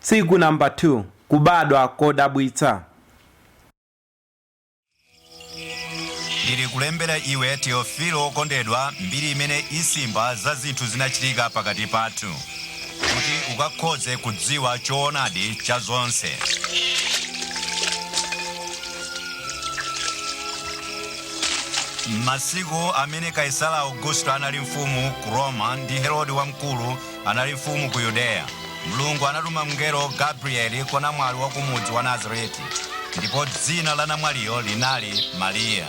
Tsiku namba 2 Kubadwa kodabwitsa. Ndili kulembera iwe Teofilo wokondedwa, mbiri imene isimba za zinthu zinachitika pakati pathu, kuti ukakhoze kudziwa choonadi cha zonse. M'masiku amene Kaisara Augusto anali mfumu ku Roma ndi Herode Wamkulu anali mfumu ku Yudeya, Mulungu anatuma mngelo Gabrieli kwa namwali wa ku mudzi wa Nazareti, ndipo dzina la namwaliyo linali Mariya.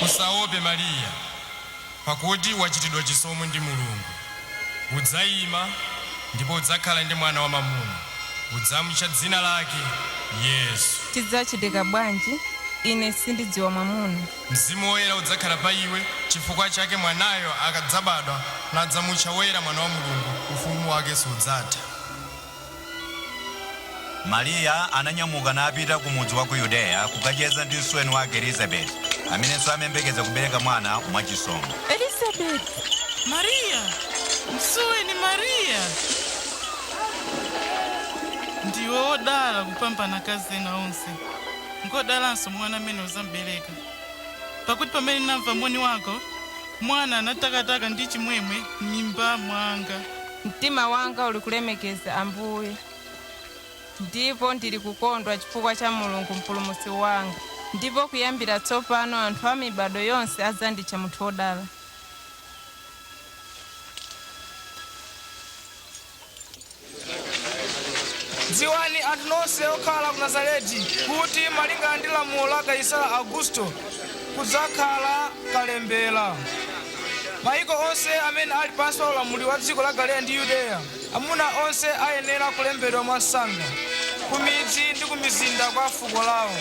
Usaope Mariya, pakuti wachitidwa chisomo ndi Mulungu. Udzayima ndipo udzakhala ndi mwana wamamuna. Udzamutcha dzina lake Yesu. Chidzachitika bwanji? Ine sindidziwa mwamuna. Mzimu Woyera udzakhala pa iwe, chifukwa chake mwanayo akadzabadwa, adzamutcha Woyera Mwana wa Mulungu, Ufumu wake sudzatha. Mariya ananyamuka napita ku mudzi wa ku Yudeya kukacheza ndi msuweni wake Elizabeti, amenenso amayembekeza kubereka mwana mwa chisomo. Elizabeti! Mariya! Msuweni Mariya! Ndiwe wodala kupambana akazi ena onse, ngwodalanso mwana amene uzambereka. Pakuti pamene ndinamva moni wako, mwana anatakataka ndi chimwemwe m'mimba mwanga. Mtima wanga uli kulemekeza Ambuye, ndipo ndili kukondwa chifukwa cha Mulungu Mpulumutsi wanga, ndipo kuyambira tsopano anthu a mibado yonse adzanditcha munthu wodala. Dziwani anthu nonse okhala ku Nazareti, kuti malingana ndi lamulo la Kaisara Augusto, kudzakhala kalembera. Maiko onse amene ali pansi pa ulamuliro wa dziko la Galileya ndi Yudeya, amuna onse ayenera kulembedwa mwamsanga ku midzi ndi ku mizinda kwa fuko lawo.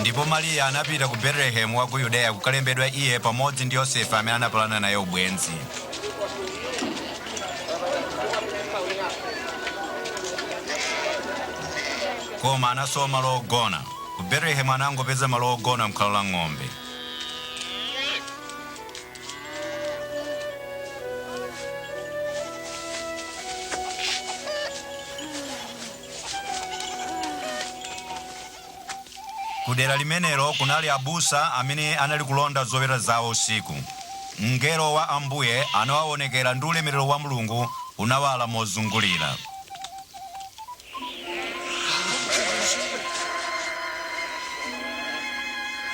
Ndipo Mariya anapita ku Betelehemu wa ku Yudeya kukalembedwa iye pamodzi ndi Yosefe amene anapalana naye ubwenzi. Koma anasowa malo ogona. Ku Betelehemu anangopeza malo ogona m'khola la ng'ombe. Ku dera limenelo kunali abusa amene anali kulonda zoweta zawo usiku. Mngelo wa Ambuye anawawonekera ndi ulemerero wa Mulungu unawala mozungulira.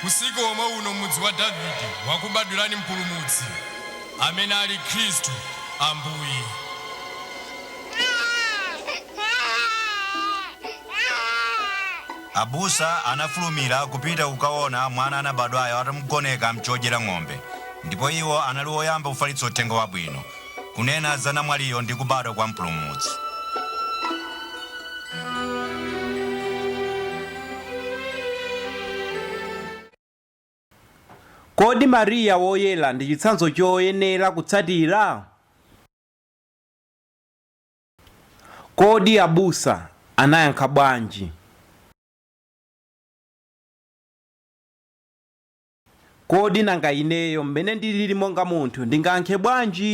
Usiku womwe uno m'mudzi wa Davide wakubadwirani Mpulumutsi, amene ali Khristu Ambuye. Abusa anafulumira kupita kukaona mwana anabadwayo atamugoneka m'chodyera ng'ombe, ndipo iwo anali oyamba kufalitsa uthenga wabwino Kunena za namwaliyo ndi kubadwa kwa Mpulumutsi. Kodi Mariya Woyera ndi chitsanzo choyenera kutsatira? Kodi abusa anayankha bwanji? Kodi nanga ineyo mmene ndilili monga munthu ndingayankhe bwanji?